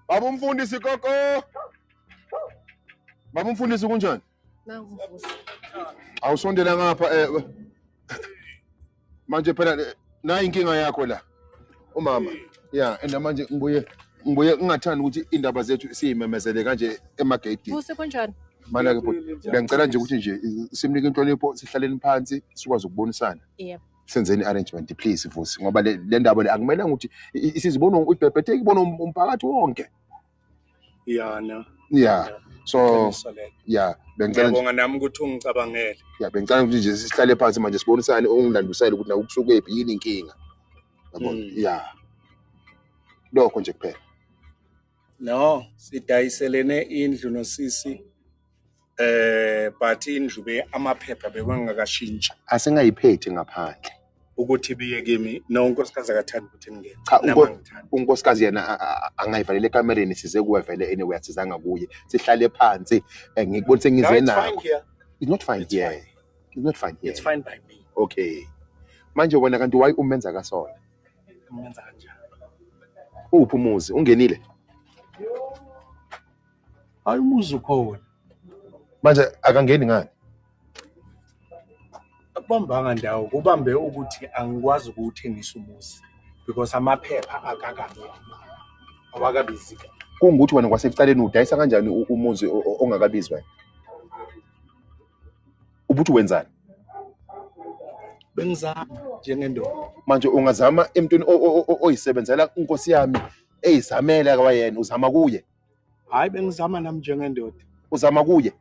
Baba umfundisi koko. Baba umfundisi kunjani? Nangu mfundisi. Awusondela ngapha eh. Manje phela eh, nayi inkinga yakho la. umama ya and manje ngibuye ngibuye ngingathanda ukuthi indaba zethu siyimemezele kanje emageyidini kuse kunjani mana ke bhuti ngiyangicela nje ukuthi nje simnike inhlonipho sihlaleni phansi sikwazi ukubonisana yebo senzeni arrangement please vusi ngoba le ndaba le akumelanga ukuthi isizibona ibhebhetheke ibona um-, umphakathi wonke ya no ya so ya bengicela ngiyabonga nami ukuthi ungicabangele ya bengicela ukuthi nje sihlale phansi manje sibonisane ungilandusele ukuthi na ukusuke phi yini inkinga yabona hmm. ya lokho nje kuphela no sidayiselene indlu nosisi eh but indlu be amaphepha bekwangakashintshi asengayiphethe ngaphandle ukuthi biye kimi no unkosikazi akathanda ukuthi ngingene cha unkosikazi yena angayivalele ekamereni size kuwe vele anyway asizanga kuye sihlale phansi eh, ngikubonise ngize nako it's not fine here it's not fine here it's fine by me okay manje wena kanti why umenza kasona umenza kanjani uphi umuzi ungenile Hayi umuzi ukhona. Manje akangeni ngani? Akubambanga ndawo kubambe ukuthi angikwazi ukuwuthengisa umuzi because amaphepha akakabi awakabizi kahle. Kungukuthi wena kwasekuqaleni udayisa kanjani u- umuzi o- o- ongakabizi wena? Ubuthi wenzani? Bengizama njengendoda. Manje ungazama emntwini o- o- o- oyisebenzela inkosi yami eyizamele akawayena uzama kuye. Hayi bengizama nami njengendoda. Uzama kuye?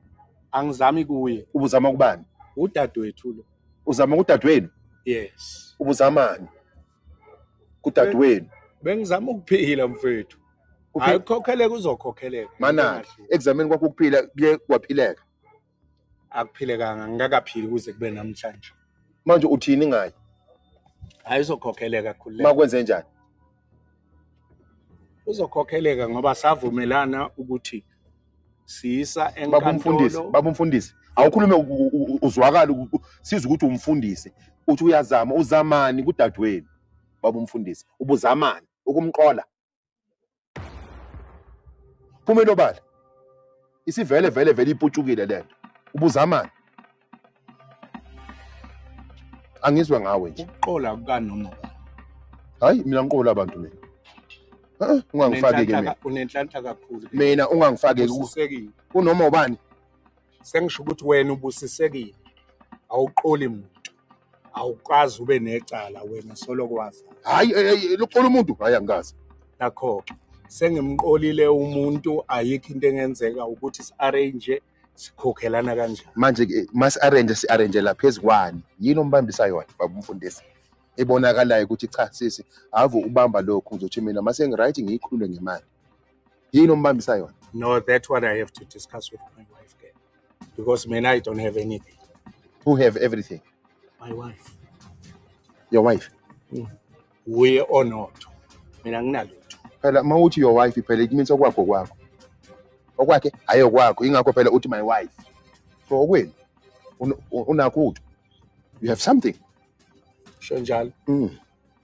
Angizami kuye. Ubuzama kubani? Udadewethu lo. Uzama kudadewenu? Yes. Ubuzamani? Kudadewenu. Bengizama ukuphila mfethu. Hayi kukhokheleka uzokhokheleka. Mana ekuzameni kwakho ukuphila kuye kwaphileka. akuphilekanga ngingakaphili kuze kube namhlanje manje uthini ngayo hayi uzokhokheleka khulu makwenze njani uzokhokheleka ngoba savumelana ukuthi siyisa enkantolo baba umfundisi awukhulume uzwakala siza ukuthi umfundisi uthi uyazama uzamani kudadewenu baba umfundisi ubuzamani ukumqola phuma inobala isivele vele vele iputshukile lento ubuzamani angizwe ngawe nje ukuqola kukanoma hayi mina ngiqola abantu mina ungangifaki ke mina unenhlanhla kakhulu mina ungangifaki kunoma ubani sengisho ukuthi wena ubusisekile awuqoli muntu awukazi ube necala wena soloko wazi hayi eh, eh, lokuxola umuntu hayi angikazi nakho-ke sengimqolile umuntu ayikho into engenzeka ukuthi si-arrange sikhokhelana kanjani manje ke masi-arrange si-arrangela phezu kwani yini ombambisa yona baba umfundisi ebonakalayo ukuthi cha sisi ave ubamba lokhu ngizothi mina masengiright ngiyikhulule ngemali yini ombambisa yona no that what i have to discuss with my wife ke because mina i don't have anything who have everything my wife your wife mm. wuye mm. onotho mina nginalutho phela uma uthi your wife phela it means okwakho kwakho okwakhe hhayi okwakho yingakho phela uthi my wife so okwenu unakho utho you have something sho njalo mm.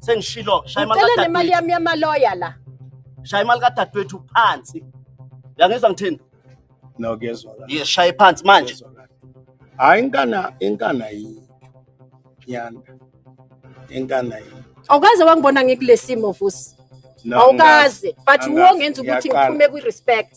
sengishilo shaya imali ngicela nemali yami yamaloya la shaya imali kadadewethu phansi uyangizwa ngithini no kuyezwa kahle yes shaya phansi manje Kuyezwa kahle. hayi inkana inkana yini yana inkana yini awukaze wangibona ngikulesimo vusi No, awukaze but ngikaze. wongenza ukuthi Ngiyaqala. ngiphume kwi-respect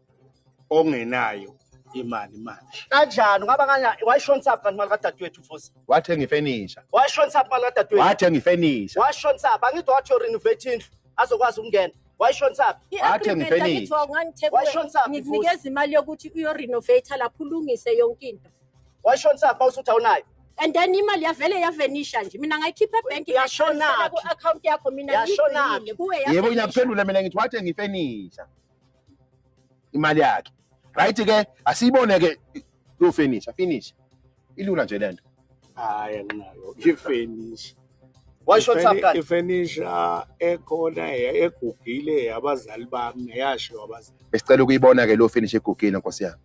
ongenayo imali manje kanjani ungaba kanya wayishonisa phi kanti imali kadadewethu futhi wathenga ifenisha wayishonisa phi imali kadadewethu wathenga ifenisha wayishonisa phi angithi wathi urenovate indlu azokwazi ukungena wayishonisa phi wathenga ifenisha wayishonisa phi ngikunikeza imali yokuthi uyorenovate lapho ulungise yonke into wayishonisa phi usuthi awunayo and then imali yavele yavenisha nje mina ngayikhipha ebank yashona ku account yakho mina yashona kuwe yebo ngiyakuphendula mina ngithi wathenga ifenisha imali yakhe right ke asiyibone ke lo finish finish ilula nje lento hayi anginayo ifinish washo thapha ifenisha ekhona egugile abazali bami yasho abazali esicela ukuyibona ke lo finish egugile nkosi yami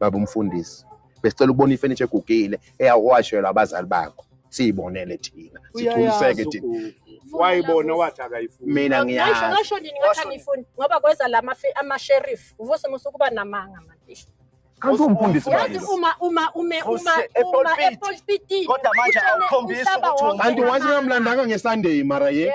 baba umfundisi besicela ukubona ifurniture egugile eyawashelwa abazali bakho siyibonele thina sigculiseke thina wayibona wathi akayifuni mina ngiyazi ngasho nini ngathi angiyifuni ngoba kweza lama ama-sheriff uvuse musa ukuba namanga mantisha kanti umfundisi yazi uma uma ume uma uma epulpitini kodwa manje awukhombisi ukuthi kanti wathi ngamlandanga ngesunday mara ye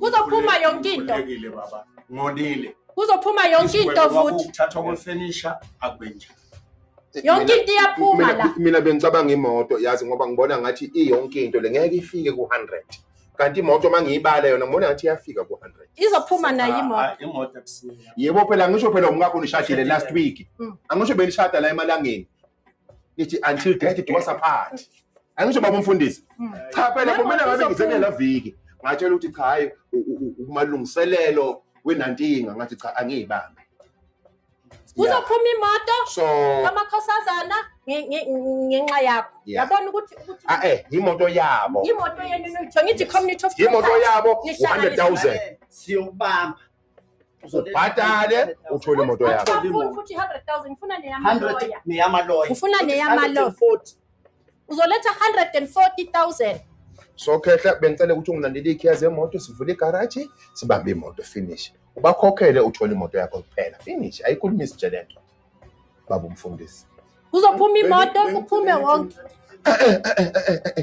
Kuzophuma yonke into. Ngilekile baba. Ngonile. Kuzophuma yonke into futhi. Ukuthathwa kwefurniture akwenje. Yonke into iyaphuma la. Mina bengicabanga imoto yazi ngoba ngibona ngathi iyonke into le ngeke ifike ku 100. kanti imoto uma ngiyibala yona ngibona ngathi iyafika ku-hundred izophuma nayo ah, imoto ah, yebo phela ngisho phela umkakho nishadile last week mm. angisho benishada la emalangeni nithi until death do us apart angisho baba umfundisi hmm. cha phela kumele ngabe ngizenela viki ngatshela ukuthi cha hayi umalungiselelo wenantinga ngathi cha angiyibambe kuzophuma imoto amakhosazana ngenxa yakho yabona ukuthi ah, eh imoto yabo imoto yenu nitho ngithi community of imoto yabo 100000 siyobamba ubhatale uthole imoto yakho futhi 100000 ngifuna neyamaloya neyamaloya ngifuna neyamaloya uzoletha 140000 so khehla bengicela ukuthi ungilandele ikhiya zemoto sivule igaraji sibambe imoto finish ubakhokhele uthole imoto yakho kuphela finish ayikhulumi isitshe lento baba umfundisi kuzophuma imoto kuphume wonke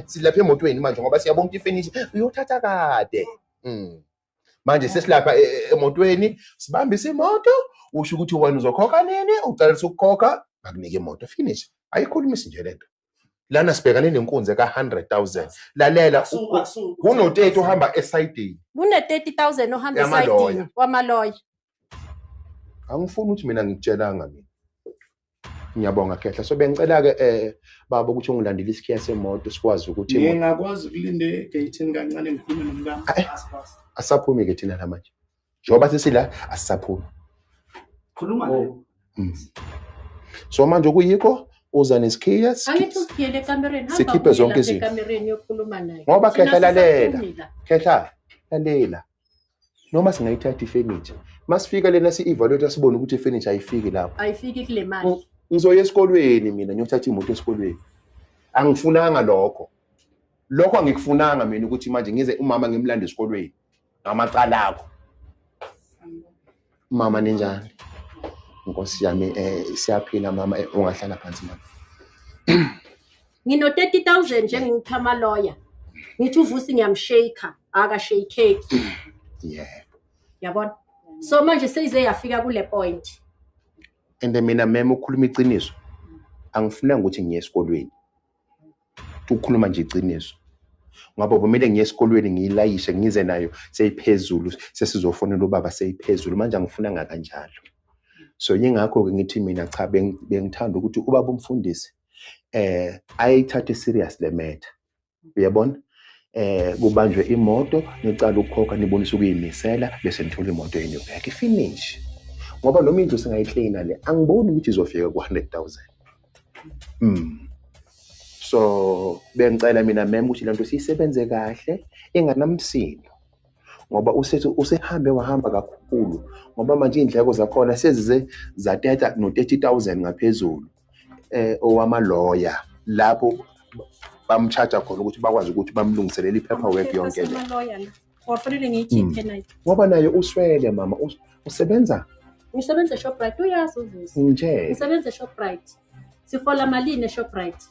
silapha emotweni manje ngoba siyabonga ifinish uyothatha kade mm. manje sesilapha e- e- emotweni sibambise imoto usho ukuthi wena uzokhokha nini ucalisa ukukhokha bakunike imoto finish ayikhulumisi nje lento lana sibhekane nenkunzi eka-100000 lalela Akusu- akusu- kunoteti ohamba esayidini kune-30 000 ohamba Yamaloya. esayidini wamaloya angifuni ukuthi mina ngikutshelanga mina ngiyabonga khehla so bengicela ke eh baba ukuthi ungilandele isikhiya semoto sikwazi ukuthi imoto- ngingakwazi ukulinda egeyithini kancane ngikhulume nomkami Ayi. Asipasi. asaphumi ke thina namanje njengoba sesila asisaphumi khuluma naye Mm. so manje okuyikho uza nesikhiya angithi usiphiyele ekamereni hamba Sikhiphe uye zonke lapha izinto. ekamereni yokhuluma naye Ngoba Thina Khehla lalela. sisaphumi la. khehla lalela noma singayithatha ifenitsha masifika lena si-evaluate sibone ukuthi ifenitsha ayifiki lapho ayifiki kule mali mm, ngizoya esikolweni mina ngiyothatha imoto esikolweni angifunanga lokho lokho angikufunanga mina ukuthi manje ngize umama ngimlande esikolweni ngamacala akho Mama ninjani? Nkosi yami eh siyaphila mama eh, ungahlala phansi mama. Ngino 30000 njengipha ama lawyer. Ngithi uvusi ngiyamshake, aka shake. Yeah. Yabona? So manje seyize yafika kule point. And mina mema ukhuluma iqiniso. Angifunanga ukuthi ngiye esikolweni. ukukhuluma nje iqiniso ngoba kumele ngiye esikolweni ngiyilayishe ngize nayo seyiphezulu sesizofonela ubaba seyiphezulu manje angifuna ngakanjalo so yingakho-ke ngithi mina cha bengithanda ukuthi ubaba umfundisi eh ayithathe serious le matter uyabona eh kubanjwe imoto nicala ukukhokha nibonisa ukuyimisela bese nithola imoto yenu back finish ngoba noma indlu singayiklina le angiboni ukuthi izofika ku-100 000 Mm. So bengicela mina mem ukuthi lento siyisebenze kahle inganamsindo ngoba usethi usehambe wahamba kakhulu ngoba manje iy'ndleko zakhona sezize zateta no-thirty thousand ngaphezulu eh owamaloya lapho bamshaja khona ukuthi bakwazi ukuthi bamlungiselele i-paperwork yonke le wafanele ngiyikhiphe hmm. nayo ngoba naye uswele mama usebenza ngisebenza eshoprite uyazi uvusi nje ngisebenza eshoprite sifola malini eshoprite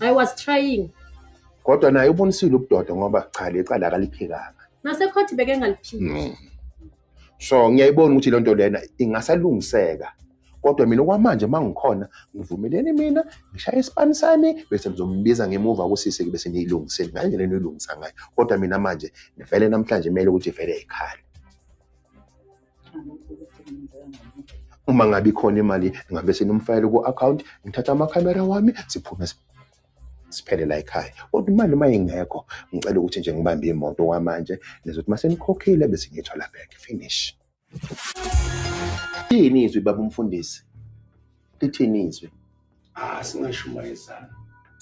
i was trying kodwa naye ubonisile ubudoda ngoba cha lecala akaliphikanga nasekhothi beke ngaliphiki hmm. so ngiyayibona ukuthi lento lena ingasalungiseka kodwa mina okwamanje uma ngikhona ngivumeleni mina ngishaye isipani sami bese ngizombiza ngemuva kusise ke bese niyilungiseni ngale ndlela eniyilungisa ngayo kodwa mina manje ngivele namhlanje kumele ukuthi vele ikhale uma ngabe ikhona imali ngabe senimfayele ku-akhawunti ngithatha amakhamera wami siphume siphele la ekhaya kodwa imali uma ingekho ngicela ukuthi nje ngibambe imoto kwamanje nizothi uma senikhokhile bese ngiyithola back finish Yini izwi baba umfundisi? Lithini izwi? Ah singashumayezana.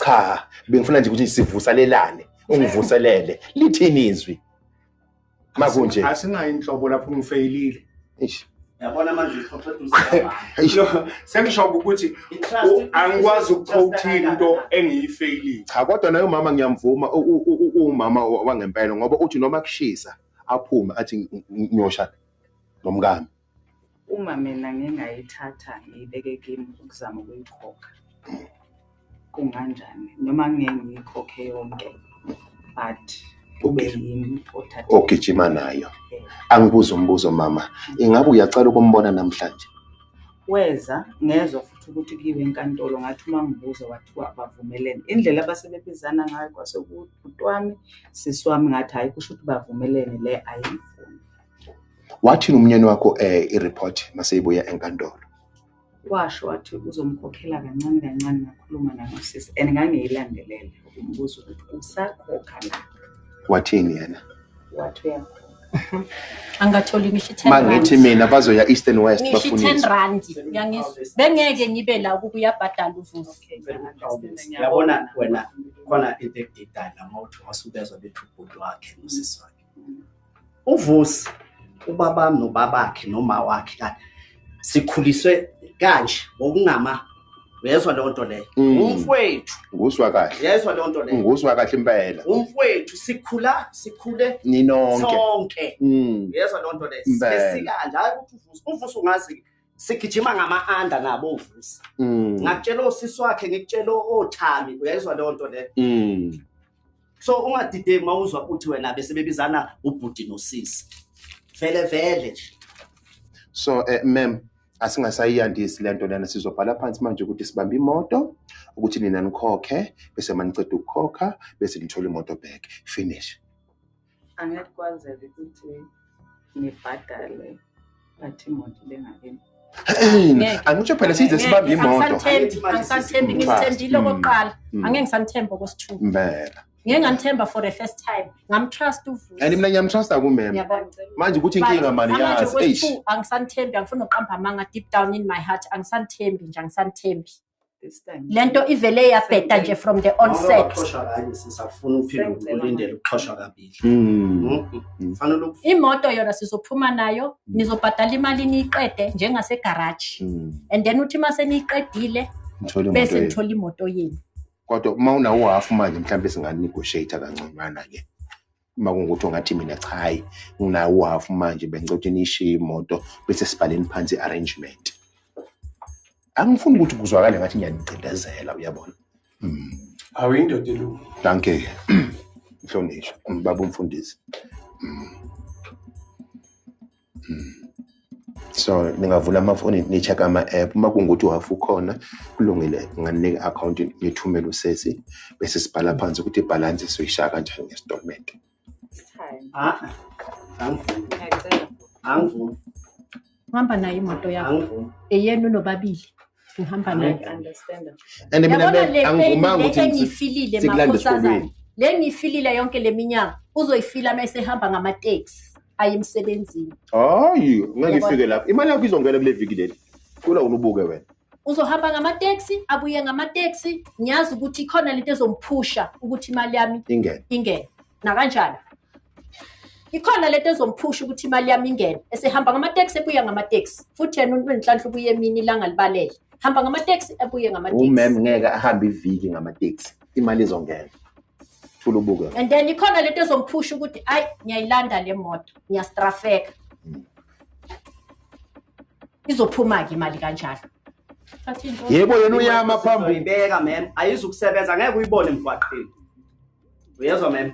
Cha, bengifuna nje ukuthi sivusalelane, ungivuselele. Lithini izwi? Makunje. Asinayo inhlobo lapho ngifeyilile. Eish. Yabona manje uxoxa eduze kwabani. Sengisho ukuthi angikwazi ukuqhotha into engiyifeyilile. Cha kodwa naye umama ngiyamvuma u- u- u- uwumama wa- wangempela ngoba uthi noma kushisa aphume athi "Ng- ng- ngiyoshada nomkami uma mina ngingayithatha ngiyibeke kimi ukuzama ukuyikhokha kunganjani noma ngeke ngiyikhokhe yonke but kube yimi othathe ogijima nayo angibuza umbuzo mama ingabe uyacela ukumbona namhlanje weza ngezwa futhi ukuthi kuyiwe enkantolo ngathi uma ngibuza wathiwa bavumelene indlela abasebebizana ngayo kwasekude bhuti wami sisi wami ngathi hhayi kusho ukuthi bavumelene le ayimfuni wathini umnyeni wakho um eh, ireport maseyibuya enkantolo washo wathi uzomkhokhela kancane kancane ngakhuluma nanosisi and ngangiyilandelela umbuzo ukuthi usakhokha na wathini yena wathi uyamdunga angatholi ngisho i-ten rand. mangithi mina bazoya east and west ngisho i-ten bafunisa rand uyangizwa bengeke ngibe la ukuba uyabhadala uvusi yabona wena khona into ekudidana uma uthi wasubezwa bethi ubhuti wakhe nosisi wakhe uvusi ubabami nobabakhe noma wakhe kade sikhuliswe kanje ngokungama uyezwa leyo nto leyo Mm. umfwethu nguswa kahle uyezwa leyo nto leyo nguswa kahle impela umfwethu sikhula sikhule ninonke sonke Mm. uyezwa leyo nto leyo Impela. sesikanje hayi ukuthi uvusa uvusa ungazi sigijima ngama-anda nabo uvusa Mm. ngakutshela osisi wakhe ngikutshela othami uyayizwa leyo nto leyo Mm. so ungadideki uma uzwa ukuthi wena besebebizana ubhuti nosisi vele vele nje so eh, mem asingasayiyandisi lento lena sizobhala phansi manje ukuthi sibambe imoto ukuthi nina nikhokhe bese maniceda ukukhokha bese nithola imoto back finish angeke kwazeke ukuthi ngibhadale but imoto ibengakini angitsho phela size sibambe imoto angisathembi ngithembile hmm. okokuqala hmm. angeke ngisamthemba okwesithupha impela ngeke ngamthemba for the first time ngamtrust uvusi and mina ngiyamtrusta kumem manje ukuthi inkinga mani yazi eish angisamthembi angifuni uqamba amanga deep down in my heart angisamthembi nje angisamthembi this time le nto ivele yabheda nje from the onset uxoshwa kanye sisafuna uphinde ukulindele ukuxoshwa kabili mm. Mm. fanele ukufika imoto yona sizophuma nayo mm. nizobhadala imali niyiqede njengasegaraji and then uthi uma seniyiqedile bese nithola imoto yenu kodwa uma unawo half manje mhlawumbe singanegotiate kanconywana ke uma kungukuthi ungathi mina cha hayi nginayo uhafu manje bengicela ukuthi nishiye imoto bese sibhaleni phansi i-arrangement angifuni ukuthi kuzwakale ngathi ngiyanigcindezela uyabona hmm. awu indoda elungu danke mhlonishwa baba umfundisi hmm. so ningavula amafoni ni-check ama-app uma kungukuthi uhhafu ukhona kulungile nginganika i-akhawunti ngithumele usesi bese sibhala phansi ukuthi ibhalansi soyishaya kanjani ngesitolment hamba nayo imoto yakho eyenu nobabili ngihamba naye and mina angivumanga ukuthi ngifilile makhosazana le ngiyifilile yonke le minyaka uzoyifila uma esehamba ngamateksi aye emsebenzini hayi ngeke ifike lapho imali yakho izongena kule viki leli kula unubuke wena uzohamba ngamateksi abuye ngamateksi ngiyazi ukuthi ikhona lento ezomphusha ukuthi imali yami ingene ingene nakanjani ikhona lento ezomphusha ukuthi imali yami ingene esehamba ngamateksi ebuya ngamateksi futhi yena umuntu wenhlanhla ubuye emini ilanga libalele hamba ngamateksi ebuye ngamateksi umem ngeke ahambe iviki ngamateksi imali izongena thula ubuke and then ikhona lento ezomphusha ukuthi ayi ngiyayilanda le moto ngiyastrafeka hmm. izophuma-ke imali kanjalo yebo yena uyama phambili ibeka mem ayizukusebenza ngeke uyibone emgwaqeni uyezwa mem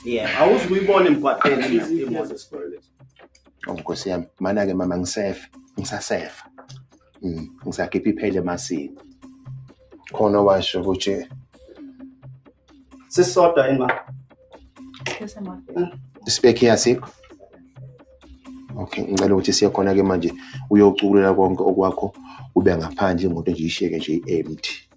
yeah awuzi kuyibona emgwaqeni imoto esikoleni oh nkosi yami mana-ke mama ngisefa ngisasefa mm, ngisakhipha iphele emasini khona washo ukuthi sisodwa ima isibekhi yasikho okay ngicela ukuthi siye khona-ke manje uyocukulela konke okwakho ube ngaphandle imoto nje ishiyeke nje i-empty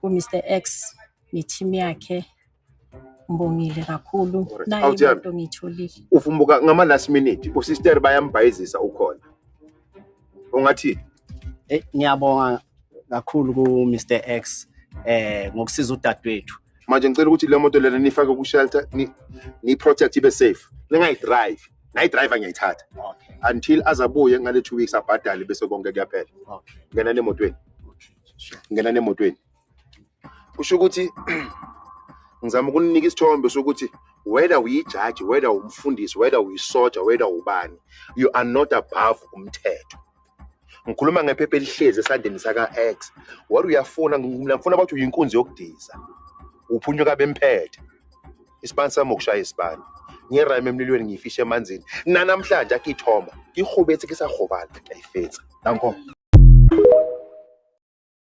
ku-Mr X ne-team yakhe ngibongile kakhulu nayo Awuthembi. into ngiyitholile uvumbuka ngama last minute usister bayambhayizisa ukhona ungathini Eh ngiyabonga kakhulu ku Mr X eh ngokusiza udadewethu. manje ngicela ukuthi le moto lena niyifake ku-shelter ni- niyi-protect ibe safe ningayidrive nayi driver ngiyayithatha okay until azabuye ngale 2 weeks abhadale bese konke kuyaphela okay ngena nemotweni okay sure ngena nemotweni kusho ukuthi ngizama ukunika isithombe sokuthi whether uyijaji whether umfundisi whether uyisoja whether ubani you are not above umthetho ngikhuluma ngephepha elihlezi esandleni saka-x wari uyafuna mina ngifuna bathi uyinkunzi yokudiza uphunyuka bemphethe isibani sami ukushaya isibani ngiyerayima emlilweni ngiyifishe emanzini nanamhlanje akithoma ngihubethe kisahobana ngiyayifetsa danko